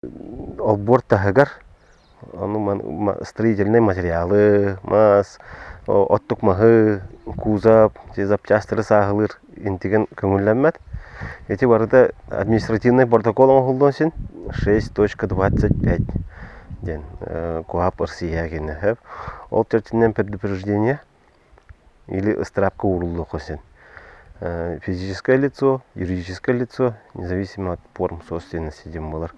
Отбор таһыгар ону строительнай материалы, мас, оттук маһы, кузов, запчастары сааһылыыр интиген көҥүллэммэт. Ити барыта административнай протокол оҥоһуллуон син шесть точка двадцать пять диэн куһаап ырсыйыа киниэхэ. Ол чэрчитинэн предупреждение или ыстараапка ууруллуохха син физическое лицо юридическое лицо независимо от форм собственности диэн буолар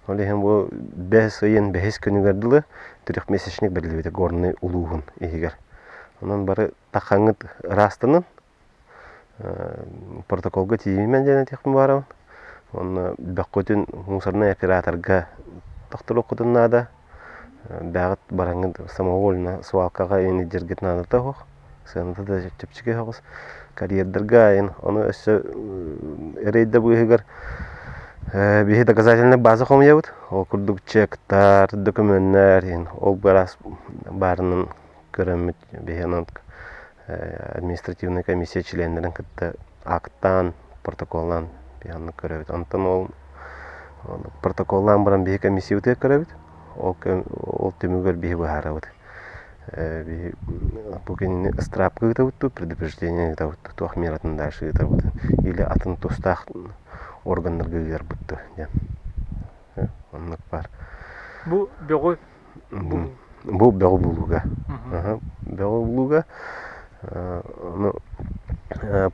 ол иһин бу бэс ыйын бэһис күнүгэр дылы трехмесячник бэриллибитэ горнай улууһун иһигэр онон бары такхаҥҥыт ыраастанан протоколга тиийиммин диэн этиэхпин баҕарабын уонна бөххүтүн мусорнай операторга тохторуоххутун наада бэҕэт бараҥҥыт самовольно свалкаҕа индиргит наадата суох сыаната да чэпчэки соҕус карьердарга айан ону өссө рейда быыһыгар биһи доказательнай база хомуйабыт ол курдук чектар докумүөннэр иһин ол быраас баарынан көрөммүт биһи онон административнай комиссия чилиэннэрин кытта аактаан, протоколлаан биһаннык көрөбүт. Онтон ол протоколлаан баран биһи комиссиябытыгар көрөбүт. Ол, ол түмүгэр биһи быһаарабыт. Биһи бу кинини ыстраапка ыытабыттуу, предупреждение ыытабыттуу, туох мер атын дальше ыытабыт или атын тустаах органнарга ыытарбыттуу диэн. Оннук бар. Бу бөҕү Бу бөҕү булууга. Бөҕү булууга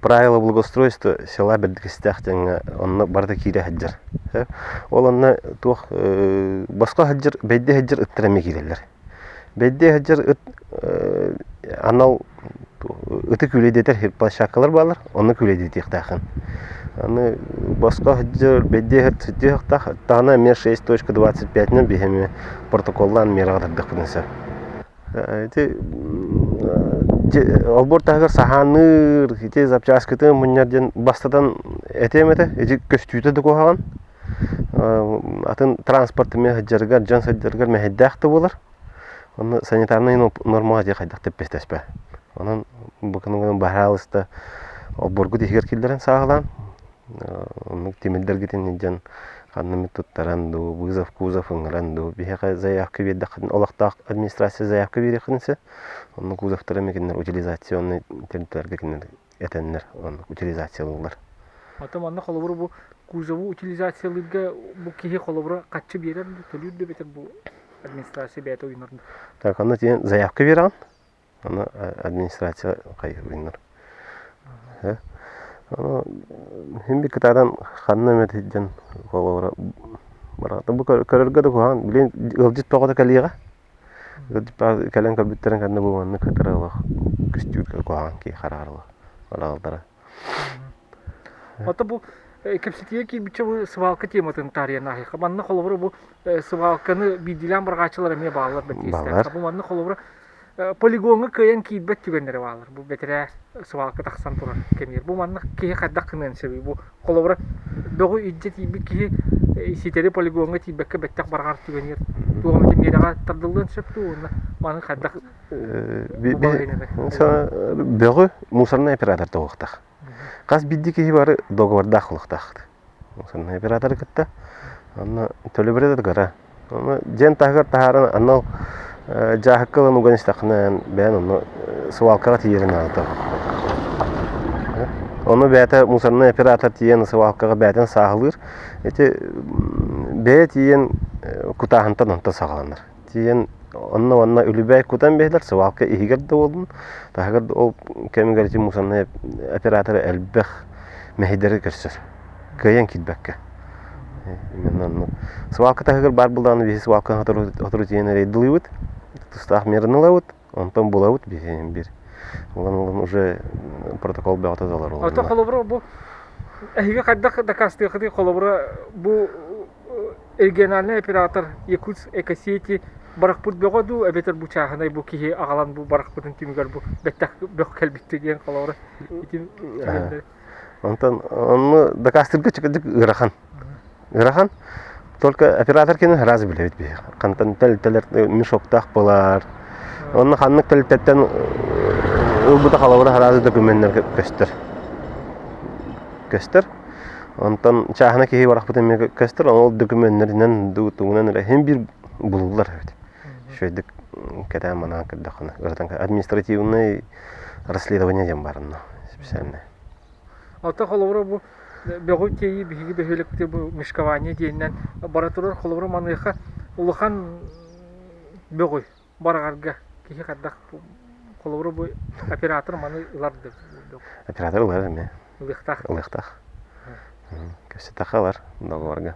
правила благоустройства села Бэрдикистээх диэҥҥэ онно барыта киирэ сылдьар. Ол онно туох босхо сылдьар, бэйдэ сылдьар ыттар эмиэ киирэллэр. Бэйдэ сылдьар ыт анал ытык үлэдэтэр площадкалар баалар онно үлэдэтиэхтээхин аны босхо сылдьар бэддиэһэр сытыахтаах таана эмиэ шесть точка двадцать пятинан биһэми протоколлаан миэрэҕэ тардыахпытын сөп ити олбуор таһыгар саһаанныыр ити запчаскытын мунньар диэн бастатан этиэм этэ ити көстүүтэ да куһаҕан атын транспорт эмиэ сылдьаргар дьон сылдьаргар мэһэйдээх да буолар Онно санитарнай нормаҕа дьиэ хайдах тэппэстэспэ. Онон бу күнүгүн баһараалыста обборгут иһигэр киллэрэн сааһылаан оннук тимирдэргитин иһдьэн ханнымыт туттаран дуу, вызов, кузов ыҥыран дуу биһиэхэ заявка биэрдэххитин олохтоох администрация заявка биэриэххитин сөп. Онно кузовтары эмиэ кинилэр утилизационнай территорияларга кинилэр этэннэр оннук утилизациялыыллар. Оттон манна холобуру бу кузову утилизациялыырга бу киһи холобура хаччы биэрэр да төлүүр да эбэтэр бу администрация бэйэтэ уйунар да. Так, анна тиен заявка бераҕын? Аны администрация хайы уйунар. Аны хин бик кытадан ханна эмет хидден холобура барата бу көрөргө да куһан, билин ыалдьыт тоҕото калига? кэлэн көрбүттэрин кэннэ бу маннык кыттара олох көстүүт куһаҕан киһи хараҕар хараҕалдара Ото бу кэпсэтиигэ киирбиччэ бу сыбаалка тематын таарыйан аһыйха. Манна холобура бу сыбаалканы биирдиилээн барҕааччылар эмиэ бааллар бэтиэстээх. Бу манна холобура полигоҥҥа кыайан киирбэт түгэннэрэ бааллар. Бу бэтэрээ сыбаалка тахсан турар кэмигэр. Бу манна киһи хайдах гыныан сөбүй? Бу Холобура, бөҕү илдьэ тиийбит киһи ситэри полигоҥҥа тиийбэккэ бэттэх барҕар түгэниэр. Туох эмит миэрэҕэ тардыллыан сөп дуу уонна маны хайдах бөҕү мусорнай оператор тоҕуохтаах. Хас бидди киһи бары договордаах олохтаах. Мусорнай операторы кытта. Онно төлөбүрэ да дьиэн таһыгар таһааран анал дьааһыкка ылан уган истэххинэ бэйэн ону сывалкаҕа тиийэрин аата ону бэйэтэ мусорнай оператор тиийэн сывалкаҕа бэйэтин сааһылыыр ити бэйэ тиийэн кутааһынтан онто саҕаланар тиийэн онно онно үлүбээй кутан биһилэр сывалка иһигэр да буоллун таһыгар ол кэмигэр ити мусорнай операторы элбэх мэһэйдэри көрсөр кыайан киирбэккэ именно ну свалка таһыгар баар булдаҕына биһи свалкаҕа сотору тиийэн рейдылыыбыт тустаах мераны ылабыт онтон булабыт биһи бир ылан ылан уже протокол бөҕөтө талар олорно ата холобура бу эһиги хайдах дакаастыахытый холобура бу региональный оператор якутск экосети барахпыт бөҕө дуу эбэтэр бу чааһынай бу киһи аҕалан бу барахпытын түмүгэр бу бэттэх бөх кэлбитти диэн холобура итин Онтон ону дакаастыырга ыарахан. Ыарахан. Только оператор кини раз билэбит биһи. Хантан тэлтэлер мешоктаах былар. Онно ханнык тэлтэттэн ылбыта халабыра хараазы документнер көстөр. Көстөр. Онтон чаахына киһи барахпыт эмиэ көстөр, ол документнеринэн, тугунан эрэ хин биир булулар эбит. үчүгэйдик кэтээн манаан көрдөххүнэ ырытан административнай расследование диэн барынна специальнай Оттон холобура бу бөҕү тиэйии биһиги бөһүөлэктэ бу мышкование диэннэн бара турар холобура маныаха улахан бөҕү барагарга киһи хардах холобура бу оператор маны ыларды оператор ылар эмиэ ылыктах ылыктах көстө таха ылар договорга